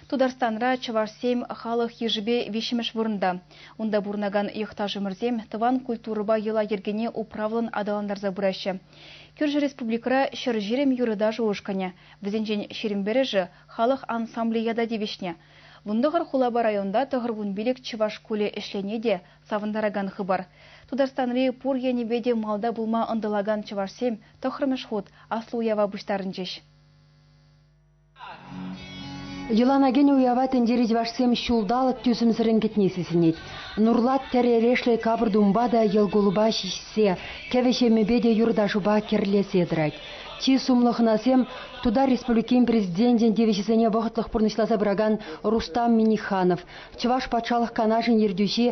Тутарстанра чӑвашсем халӑх йышӗпе виҫҫӗмӗш вырӑнта. Унта пурӑнакан йӑхташӑмӑрсем тӑван культурӑпа йӑла-йӗркене управлӑн аталантарса пыраҫҫӗ. Кӳршӗ республикӑра Ҫӗрҫирӗм юрӑ-ташӑ ушкӑнӗ, вӗсенчен ҫирӗм пӗрӗшӗ халӑх ансамблӗ ята тивӗҫнӗ. Вун тӑхӑр хулапа районта тӑхӑр кун пилӗк чӑваш шкулӗ ӗҫлени те савӑнтаракан хыпар. Тутарстанри пур енӗпе те малта пулма ӑнтӑлакан чӑвашсем тӑххӑрмӗш хут аслӑ уява пуҫтарӑнчӗҫ. Йӑлана уява тӗнчери чӑвашсем ҫулталӑк тӳсӗмсӗррӗн кӗтни сисӗнет. Нурлат тӗр эрешлӗ капӑр-тумпа та йӑл-кулӑпа ҫиҫсе, кӗвӗ-ҫемӗпе те юрта-шупа кӗрлесе тӑрать. Чи сумлӑ хӑнасем Тутар Республикин Президенчӗн тивӗҫӗсене вӑхӑтлӑх пурнӑҫласа пыракан Рустам Минниханов, Чӑваш Патшалӑх Канашӗн ертӳҫи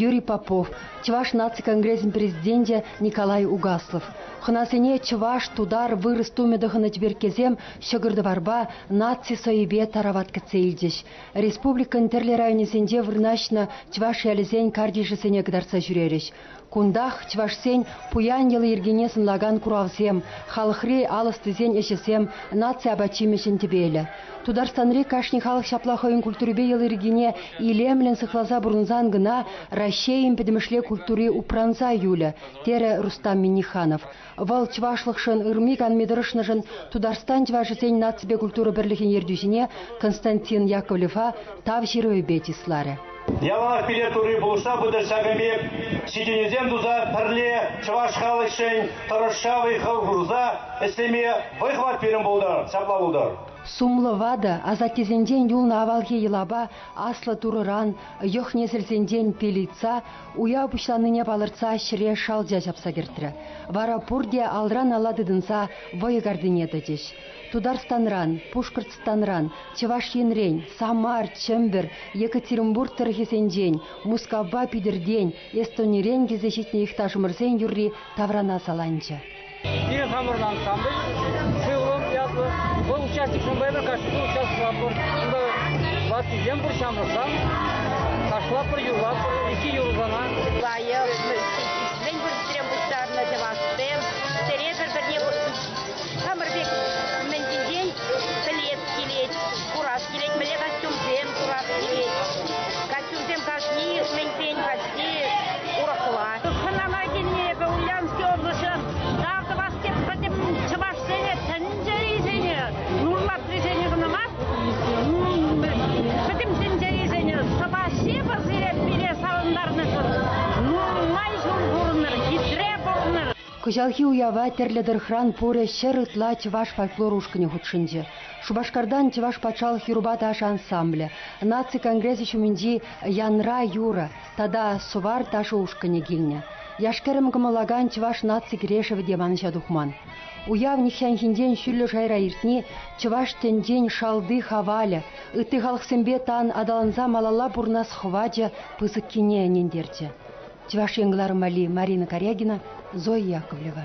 Юрий Попов, Чӑваш наци конгресӗн президенчӗ Николай Угаслов, хӑнасене чӑваш, тутар, вырӑс тумӗ тӑхӑннӑ тӗперккесем ҫӑкӑр-тӑварпа, наци сӑвӗпе тарават кӗтсе илчӗҫ. Республикӑн тӗрлӗ районӗсенче вырнаҫнӑ чӑваш ялӗсен картишӗсене кӑтартса ҫӳрерӗҫ. Кунтах чӑвашсен пуян йӑли-йӗркине сӑнлакан куравсем, халӑхри ал ӑстисен ӗҫӗсем наци апат-ҫимӗҫӗн тӗпелӗ. Тутарстанри кашни халӑх ҫапла хӑйӗн культурипе йӑли-йӗркине илемлӗн сыхласа пурӑнсан кӑна Раҫҫейӗн пӗтӗмӗшле культури упранса юлӗ, терӗ Рустам Минниханов. Вӑл чӑвашлӑхшӑн, ырми-канми тӑрӑшнӑшӑн Тутарстан чӑвашӗсен наципе культура пӗрлӗхӗн ертӳҫине Константин Яковлева Тав ҫырӑвӗпе чысларӗ. Яланах пире Турри пулӑшса пытӑр ҫакӑн пек ҫитӗнӳсем туса пӗрле чӑваш халӑхшӗн тӑрӑшса вӑй-хал хурса ӗҫлеме вӑй хӑват пирӗн пултӑр, ҫапла пултӑр. Сумлӑ ватӑ асаттесенчен юлнӑ авалхи йӑлапа аслӑ Турӑран, йӑх-несӗлсенчен пелица Уяв пуҫланнине палӑртса ҫӗре шалча ҫапса кӗртрӗ. Вара пурте алран-ала тытӑнса вӑйӑ картине тӑчӗҫ. Тутарстанран, Пушкӑртстанран, Чӑваш Енрен, Самар, Чӗмпӗр, Екатеринбург тӑрӑхӗсенчен, Мускавпа Питӗртен, Эстонирен килсе ҫитнӗ юхташӑмӑрсен юрри таврана саланчӗ. Пирӗн хамӑрӑн ансамбль «Сывлӑм» ятлӑ. Вӑл участникшӑн пӗр кашни участвуятпӑр. Унта ваттисем пур ҫамрӑксем. Ташлатпӑр, юрлатпӑр икӗ юрӑсана. Лайӑх, мӗн пурсем пуҫтарнӑ чӑвашсем. Сире пӗр-пӗрне хамӑр пек мӗн ҫинчен пӗлес килет, курас килет, мӗнле костюмсем курас килет. Вӗсем кашни иртменсен хасти урӑхла. Хӑнана килни эпӗ Ульянски облаҫӗ та тӑвас теп пӗтӗм чӑвашсене тӗнчерисене нурлатрисене кӑна мар, пӗтӗм тӗнчерисене сӑваҫҫи пӗр сире пире савӑнтарнӑшӑн. Нумай ҫул пурӑнӑр, хитре пурӑнӑр. Кӑҫалхи уява тӗрлӗ тӑрӑхран пурӗ ҫӗр ытла чӑваш фольклор ушкӑнӗ хутшӑнчӗ. Шупашкартан Чӑваш патшалӑх юрӑпа ташӑ ансамблӗ, наци конгресӗ ҫумӗнчи Янра юрӑ тата Сувар ташӑ ушкӑнӗ килнӗ. Яш-кӗрӗм кӑмӑллакан чӑваш наци кӗрешӗвӗ те манӑҫа тухман. Уяв нихҫанхинчен ҫӳллӗ шайра иртни чӑваш тӗнчен шалти хавалӗ, ытти халӑхсемпе тан аталанса малалла пурӑнас хӑвачӗ пысӑккине ӗнентерчӗ. Чӑваш Ен кӑларӑм валли Марина Карягина, Зоя Яковлева.